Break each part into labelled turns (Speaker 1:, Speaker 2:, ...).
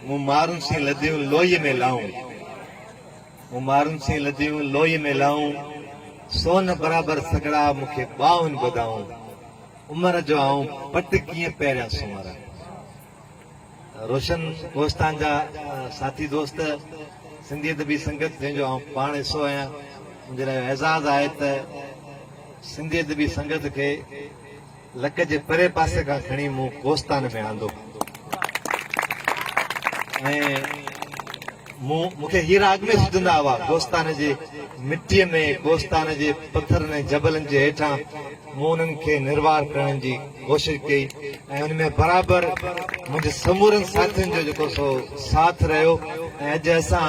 Speaker 1: مون مارن سين لڌيون لوئيء ۾ لائون مون مارن سين لڌيون لوئيء ۾ لائون سون برابر سگهڙا مون کي ٻانهن ٻڌائون عمر جو آئون پٽ ڪيئن پهريان سنواران روشن ڪوهستان جا ساٿي دوست سنڌي ادبي سنگت جنهن جو آئون پاڻ حصو آهيان منهنجي لاء اعزاز آهي ته سنڌي ادبي سنگت کي لڪ جي پري پاسي کان کڻي مون ڪوستان ۾ آندو ۽ مون مون کي هي راڳ ۾ سجهندا هئا ڪوستان جي مٽيء ۾ ڪوستان جي پٿرن ۽ جبلن جي هيٺان مون انهن کي نروار ڪرڻ جي ڪوشش ڪئي ۽ ان ۾ برابر منهنجي سمورن ساٿين جو جيڪو سو ساٿ رهيو ۽ اڄ اسان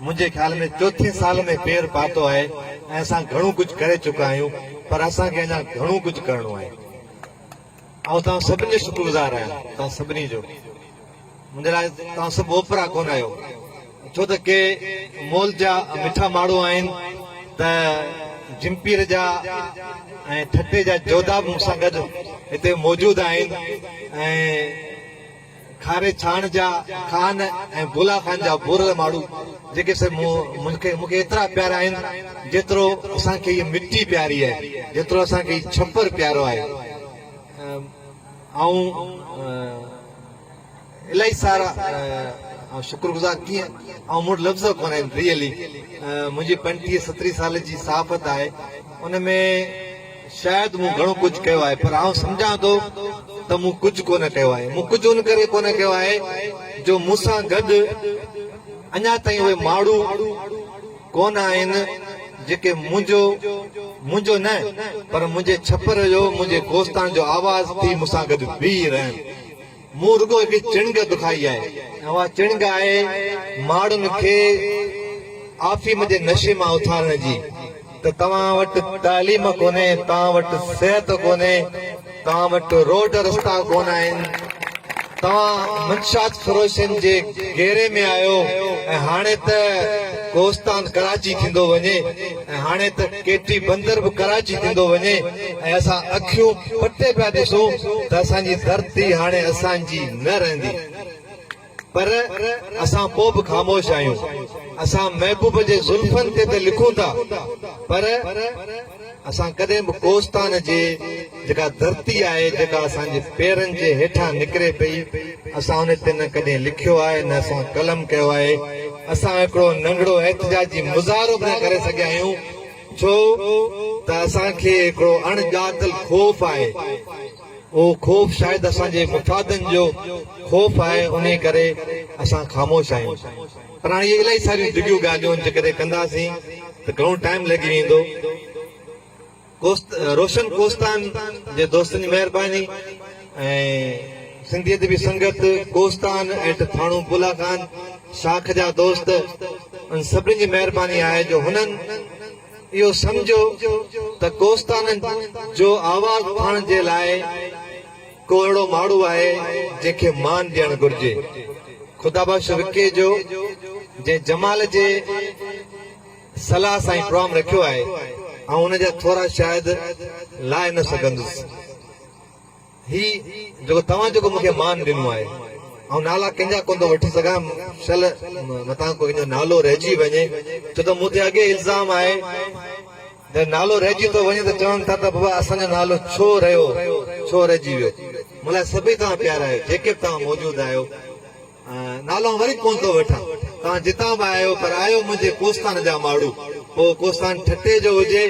Speaker 1: منهنجي خيال ۾ چوٿين سال ۾ پير پاتو آهي ۽ اسان گهڻو ڪجهه ڪري چڪا آهيون پر اسان کي اڃا گهڻو ڪجهه ڪرڻو آهي. آئون توهان سڀني جو شڪرگذار آهيان. توهان سڀني جو. منهنجي لاء توهان سڀ اوپرا ڪونه آهيو. ڇو ته ڪي مئل جا مٺا ماڻهو آهن ته جمپير جا ۽ ٺٽي جا جوڌا به مون سان گڏ هتي موجود آهن ۽ کاري ڇاڻ جا خان ۽ گولا خان جا ڀورڙ ماڙهو جيڪي سي مون کي مون کي ايترا پيارا آهن جيترو اسان کي هيء مٽي پياري آهي جيترو اسان کي هي ڇپر پيارو آهي آئون الاهي سارا آئون شڪر گذار ڪيئن آئون مون وٽ لفظ ڪونه آهن ريئلي منهنجي پنجٽيهه ستريهه سال جي صحافت آهي ان ۾ شايد مون گهڻو ڪجهه ڪيو آهي پر آئون سمجهان ٿو ته مون ڪجهه ڪونه ڪيو آهي. مون ڪجهه ان ڪري ڪونه ڪيو آهي جو مون سان گڏ اڃا تائين اهي ماڻهو ڪونه آهن جيڪي منهنجو، منهنجو نه پر منهنجي ڇپر جو، منهنجي ڪوستان جو آواز ٿي مون سان گڏ بيهي رهن. مون رڳو هڪ چڻگ دکائي آهي ۽ اها چڻگ آهي ماڙهن کي آفيم جي نشي مان اٿارڻ جي ته توهان وٽ تعليم ڪونهي، توهان وٽ صحت ڪونهي، توهان وٽ روڊ رستا ڪونه آهن، توهان منشيات فروشن جي گهيري ۾ آهيو ۽ هاڻي ته ڪوستان ڪراچي ٿيندو وڃي ۽ هاڻي ته. ڪي ٽي بندر به ڪراچي ٿيندو وڃي ۽ اسان اکيون پٽي پيا ڏسون ته اسان جي ڌرتي هاڻي اسان جي نه رهندي پر اسان پوء به خاموش آهيون اسان محبوب جي زلفن تي ته لکون ٿا پر اسان ڪڏهن به ڪوستان جي جيڪا ڌرتي آهي، جيڪا اسان جي پيرن جي هيٺان نڪري پئي، اسان ان تي نه ڪڏهن لکيو آهي، نه اسان قلم ڪيو آهي. اسان هڪڙو ننڍڙو احتجاجي مظاهرو به نه ڪري سگهيا آهيون، ڇو ته اسان کي هڪڙو اڻ ڄاتل خوف آهي. اهو خوف شايد اسان جي مفادن جو خوف آهي، انهي ڪري اسان خاموش آهيون. پر هاڻي اهي الائي ساريون ڊگهيون ڳالهيون جيڪڏهن ڪنداسين ته گهڻو ٽائيم لڳي ويندو. روشن ڪوستان جي دوستن جي مهرباني ۽ سنڌي ادبي سنگت ڪوستان ۽ ٿاڻو بولاخان شاخ جا دوست انهن سڀني جي مهرباني آهي جو هنن اهو سمجهيو ته ڪوستان جو آواز اٿائڻ جي لاء ڪو اهڙو ماڙهو آهي جنهن کي مان ڏيڻ گهرجي خدا بخش وڪيجو جنهن جمال جي صلاح سان هي پروام رکيو آهي آئون ان جا ٿورا شاهد لائي نه سگهندس هي جيڪو توهان جيڪو مون کي مان ڏنو آهي آئون نالا ڪنهن جا ڪونه ٿو وٺي سگهان شل متان ڪنهن جو نالو رهجي وڃي ڇو ته مون تي اڳي الزام آهي جڏهن نالو رهجي ٿو وڃي ته چون ٿا ته بابا اسان جو نالو ڇو رهيو ڇو رهجي ويو مون لاء سڀئي توهان پيارا آهيو جيڪي به توهان موجود آهيو نالون وري ڪونه ٿو وٺان. توهان جتان به آهيو پر آهيو منهنجي ڪوستان جا ماڙهو. پوء ڪوستان ٺٽي جو هجي،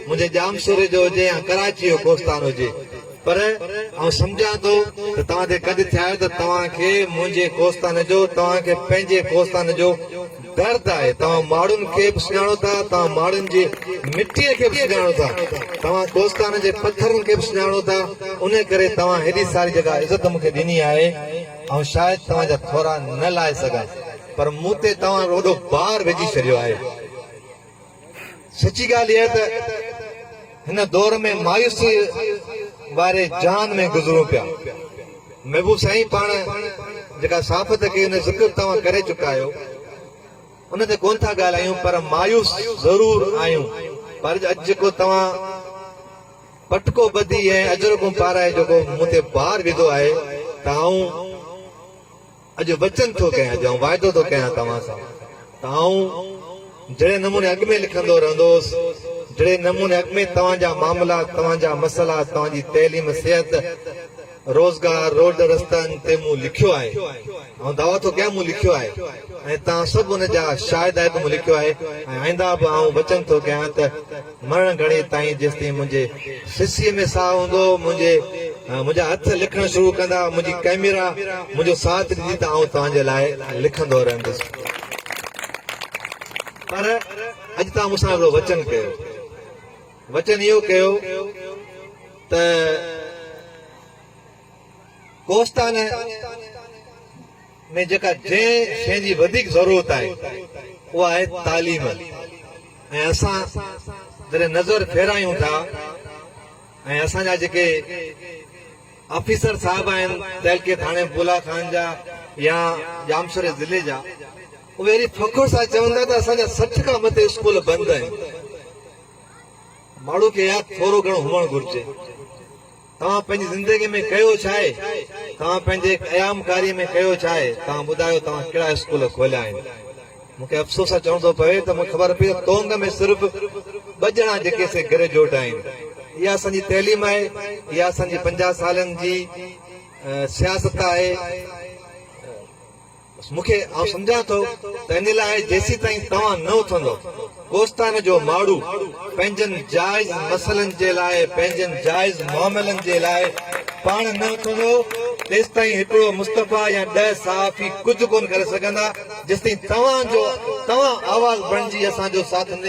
Speaker 1: منهنجي ڄامشوري جو هجي يا ڪراچي جو ڪوستان هجي. پر آئون سمجهان ٿو ته توهان تي ڪڌ ٿيا آهيو ته توهان کي منهنجي ڪوستان جو، توهان کي پنهنجي ڪوستان جو درد آهي. توهان ماڙهن کي به سڃاڻو ٿا، توهان ماڙهن جي مٽيء کي به سڃاڻو ٿا، توهان ڪوستان جي پٿرن کي به سڃاڻو ٿا، ان ڪري توهان هيڏي ساري جيڪا عزت مون کي ڏني آهي، آئون شايد توهان جا ٿورا نه لاهي سگهان پر مون تي توهان وڏو بار وجهي ڇڏيو آهي. سچي ڳالهه اها ته هن دور ۾ مايوسيء واري جهان ۾ گذرون پيا. محبوب سائين پاڻ جيڪا صحافت ڪئي ان جو ذڪر توهان ڪري چڪا آهيو ان تي ڪونه ٿا ڳالهايون پر مايوس ضرور آهيون پر اڄ جيڪو توهان پٽڪو ٻڌي ۽ اجرڪون پارائي جيڪو مون تي بار وڌو آهي ته آئون اڄ وچن ٿو ڪيان اڄ آئون واعدو ٿو ڪيان توهان سان ته آئون جهڙي نموني اڳ ۾ لکندو رهندو هوس جهڙي نموني اڳ ۾ توهان جا معاملا توهان جا مسئلا توهان جي تعليم صحت روزگار، روڊ رستن تي مون لکيو آهي. آئون دعويٰ ٿو ڪيان مون لکيو آهي ۽ توهان سڀ ان جا شاهد آهيو ته مون لکيو آهي ۽ آئنده به آئون وچن ٿو ڪيان ته مرڻ گهڙي تائين جيستائين منهنجي سسيء ۾ ساهه هوندو منهنجي منهنجا هٿ لکڻ شروع ڪندا منهنجي ڪئميرا منهنجو ساٿ ڏيندي ته آئون توهان جي لاء لکندو رهندس پر اڄ توهان مون سان هڪڙو وچن ڪيو. وچن اهو ڪيو ته ڪوهستان ۾ جيڪا جنهن شيء جي وڌيڪ ضرورت آهي اها آهي تعليم ۽ اسان جڏهن نظر ڦيرايون ٿا ۽ اسان جا جيڪي آفيسر صاحب آهن تعلقي ٿاڻي بولا خان جا يا ڄامشوري ضلعي جا اهي اهڙي فخر سان چون ٿا ته اسان جا سٺ کان مٿي اسڪول بند آهن ماڻهو کي ياد ٿورو گهڻو هئڻ گهرجي. توهان پنهنجي زندگي ۾ ڪيو ڇا آهي؟ توهان پنهنجي قيامڪاري ۾ ڪيو ڇا آهي؟ توهان ٻڌايو توهان ڪهڙا اسڪول کوليا آهن؟ مون کي افسوس سان چوڻو ٿو پوي ته مون کي خبر پئي ته تونگ ۾ صرف ٻه ڄڻا جيڪي سي گريجوئيٽ آهن. اها اسان جي تعليم آهي. اها اسان جي پنجاهه سالن جي سياست آهي. بس مون کي آئون سمجهان ٿو ته ان لاء جيسيتائين توهان نه اٿندو ڪوستان جو ماڙهو پنهنجن جائز مسئلن جي لاء پنهنجن جائز معاملن جي لاء پاڻ نه اٿندو تيستائين هڪڙو مصطفيٰ يا ڏهه صحافي ڪجهه ڪونه ڪري سگهندا جيستائين توهان جو توهان آواز بڻجي اسان جو ساٿ نه ڏيندو.